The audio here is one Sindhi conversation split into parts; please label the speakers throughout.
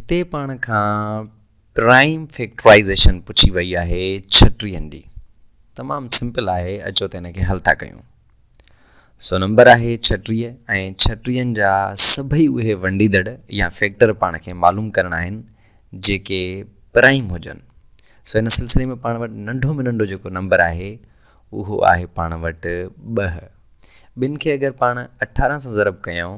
Speaker 1: هتي پاڻ کان پرائيم فيڪٽرائيزيشن پڇي وئي آهي ڇٽرين ڏي تمام سمپل آهي اچو ته ان کي حل ٿا ڪيون سو نمبر آهي ڇٽري ۽ ڇٽرين جا سڀئي اهي ونڊيدڙ يا فيڪٽر پاڻ کي معلوم ڪرڻا آهن جيڪي پرائيم هجن سو ان سلسلي ۾ پاڻ وٽ ننڍو ۾ ننڍو جيڪو نمبر آهي اهو آهي پاڻ وٽ ٻه ٻن کي اگر پاڻ اٺارهن سان ضرب ڪيون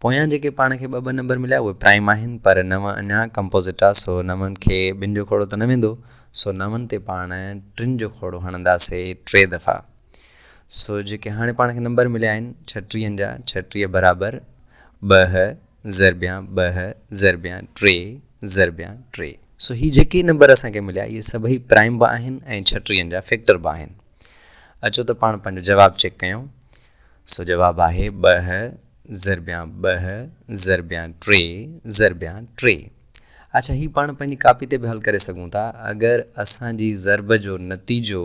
Speaker 1: پويان جيڪي پاڻ کي ٻه ٻه نمبر مليا اهي پرائم آهن پر نو اڃا ڪمپوزٽ آ سو نو کي ٻن جو کوڙو ته نه ويندو سو نو تي پاڻ ٽن جو کوڙو هڻنداسي ٽي دفعا سو جيڪي هاڻي پاڻ کي نمبر مليا آهن ڇٽيهن جا ڇٽيهه برابر ٻه ضربيان ٻه ضربيان ٽي ضربيان ٽي سو هي جيڪي نمبر اسان کي مليا اهي سڀئي پرائم به آهن ۽ ڇٽيهن جا فيڪٽر به آهن اچو ته پاڻ پنهنجو جواب چيڪ ڪيون سو جواب آهي ٻه ضربيان ٻه، ضربيان ٽي، ضربيان ٽي. اڇا هي پاڻ پنهنجي ڪاپي تي به حل ڪري سگهون ٿا. اگر اسان جي ضرب جو نتيجو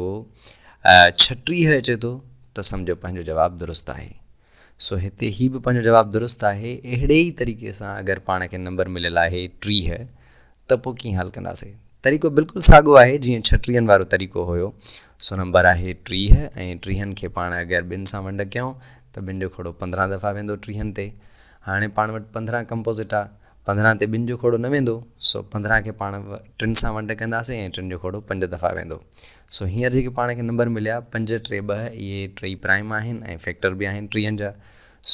Speaker 1: ڇٽيهه اچي ٿو ته سمجهو پنهنجو جواب درست آهي. سو هتي هي به پنهنجو جواب درست آهي. اهڙي ئي طريقي سان اگر پاڻ کي نمبر مليل آهي ٽيهه ته پوء ڪيئن حل ڪنداسي. طريقو بلڪل ساڳو آهي جيئن ڇٽيهن وارو طريقو هيو. سو نمبر آهي ٽيهه ۽ ٽيهن کي پاڻ اگر ٻن سان ونڊ ڪيون ته ٻن جو کوڙو پندرهن دفعا ويندو ٽيهن تي. هاڻي پاڻ وٽ پندرهن ڪمپوزٽ آ، پندرهن تي ٻن جو کوڙو نه ويندو، سو پندرهن کي پاڻ ٽن سان ونڊ ڪنداسين ۽ ٽن جو کوڙو پنج دفعا ويندو. سو هينئر جيڪي پاڻ کي نمبر مليا پنج ٽي ٻه اهي ٽئي پرائم آهن ۽ فيڪٽر به آهن ٽيهن جا.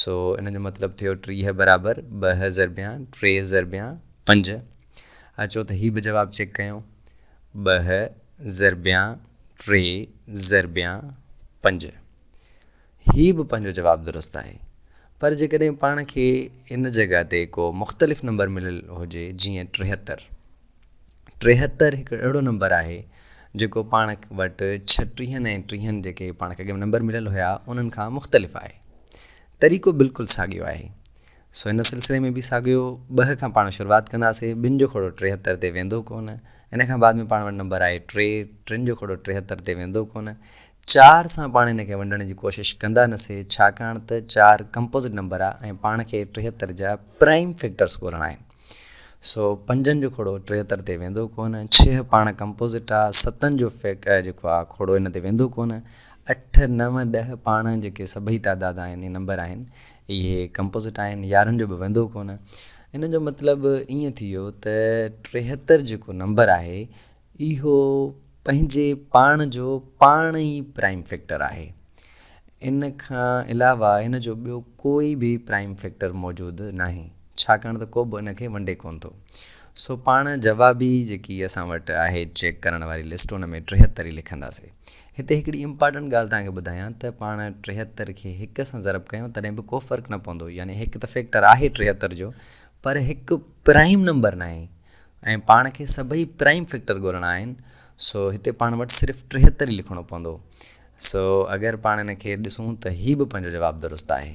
Speaker 1: سو ان جو مطلب ٿيو ٽيهه برابر ٻه ضربيان ٽي ضربيان پنج. اچو ته هي به جواب چيڪ ڪيون. ٻه ضربيان ٽي ضربيان پنج. هي به پنهنجو جواب درست آهي پر جيڪڏهن پاڻ کي ان جڳهه تي ڪو مختلف نمبر مليل هجي جيئن ٽيهتر. ٽيهتر هڪ اهڙو نمبر آهي جيڪو پاڻ وٽ ڇٽيهن ۽ ٽيهن جيڪي پاڻ کي اڳ ۾ نمبر مليل هيا انهن کان مختلف آهي. طريقو بلڪل ساڳيو آهي. سو ان سلسلي ۾ به ساڳيو ٻه کان پاڻ شروعات ڪنداسين ٻن جو کهڙو ٽيهتر تي ويندو ڪونه ان کان بعد ۾ پاڻ وٽ نمبر آهي ٽي ٽن جو کهڙو ٽيهتر تي ويندو ڪونه چار سان پاڻ ان کي ونڊڻ جي ڪوشش ڪندا نه سھي ڇاڪاڻ ته چار ڪمپوزٽ نمبر آ ۽ پاڻ کي ٽيھتر جا پرائيم فيڪٽرس ڳولڻا آھن سو پنجن جو کوڙو ٽيھتر تي ويندو ڪونه ڇهه پاڻ ڪمپوزٽ آ ستن جو فيڪ جيڪو آ کوڙو ان تي ويندو ڪونه اٺ نو ڏهه پاڻ جيڪي سڀئي تعداد آھن نمبر آھن اھي ڪمپوزٽ آھن يارھن جو به ويندو ڪونه ان جو مطلب ائين ٿي ويو ته ٽيھتر جيڪو نمبر آھي اهو پنهنجي پاڻ جو پاڻ ئي پرائيم فيڪٽر آهي. ان کان علاوه هن جو ٻيو ڪوئي به پرائيم فيڪٽر موجود ناهي، ڇاڪاڻ ته ڪوبه ان کي ونڊي ڪونه ٿو. سو پاڻ جوابي جيڪي اسان وٽ آهي چيڪ ڪرڻ واري لسٽ ان ۾ ٽيهتر ئي لکنداسي. هتي هڪڙي امپارٽنٽ ڳالهه توهان کي ٻڌايان ته پاڻ ٽيهتر کي هڪ سان ضرب ڪيون تڏهن به ڪو فرق نه پوندو يعني هڪ ته فيڪٽر آهي ٽيهتر جو پر هڪ پرائيم نمبر ناهي. ۽ پاڻ کي سڀئي پرائيم فيڪٽر ڳولڻا آهن سو هتي پاڻ وٽ صرف ٽيهتر ئي لکڻو پوندو سو اگر پاڻ ان کي ڏسون ته هي به پنهنجو جواب درست آهي.